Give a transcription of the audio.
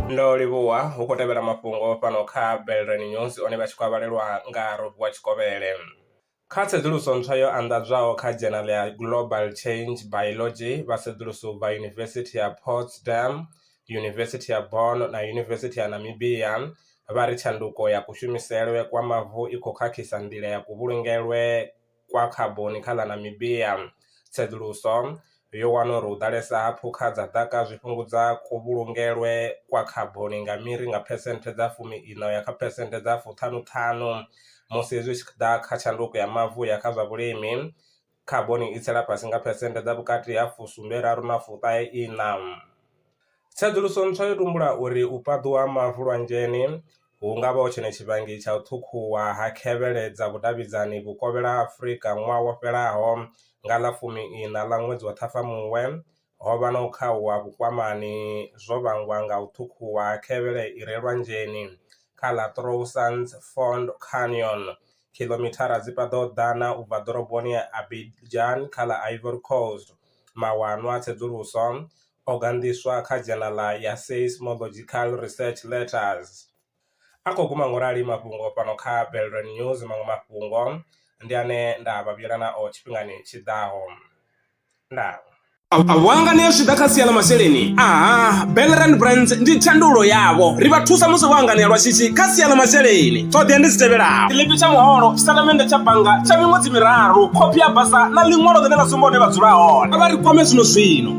ndo livhuwa hu khou tevhela mafhungo fhano kha belrani news one vha tshi khou avhalelwa nga robiwa tshikovhele kha tsedzuluso ntswa yo anḓadzwaho kha dzhenal ya global change biology vha sedzuluso vha yunivesithi ya potsdam yunivesithi ya bon na yunivesithi ya namibia vha ri tshanduko ya kushumiselwe kwa mavu i khou khakhisa nḓila ya kuvhulungelwe kwa khaboni kha ḽa Namibia. Tsedzuluso yo wana uri u ḓalesa ha phukha dza ḓaka zwi fhungudza kuvhulungelwe kwa khaboni nga miri nga phesenthe dza fumi iṋa uya kha phesenthe dza fuṱhanu ṱhanu, musi zwi tshi ḓa kha tshanduko ya mavu uya kha zwa vhulimi khaboni i tsela fhasi nga phesenthe dza vhukati ha fusumbe raru na fuṱahe iṋa. Tsedzuluso ntswa yo tumbula uri u fhaṱuwa ha mavu lwanzheni hu nga vha hu tshone tshivhangi tsha u ṱhukhuwa ha khevhele dza vhudavhidzani vhukovhela ha Afrika ṅwaha wo fhelaho nga ḽa fumi iṋa ḽa ṅwedzi wa Ṱhafamuhwe. Ho vha na u khauwa vhukwamani zwo vhangwa nga u ṱhukhuwa ha khevhele i re lwanzheni kha ḽa Troussans Fond Canyon, khiḽomithara dzi paḓaho ḓana u bva ḓoroboni ya Abidjan kha ḽa Ivory Coast. Mawanwa a tsedzuluso o ganḓiswa kha dzhenala ya Seismological Research Letters. A khou guma ngo rali mafhungo fhano kha Belron News maṅwe mafhungo ndi ane nda vha vhuyela nao tshifhingani tshi ḓaho. Ndaa. A vho hanganea zwi tshi ḓa kha sia ḽa masheleni? Aha, Belrand Brands ndi thandululo yavho. Ri vha thusa musi vho hanganea lwa shishi kha sia ḽa masheleni. Ṱhoḓea ndi dzi tevhelaho. Tshiḽipi tsha muholo, tshitatamennde tsha bannga tsha miṅwedzi miraru, khophi ya basa na ḽiṅwalo ḽine ḽa sumba hune vha dzula hone. A vha ri kwame zwino zwino.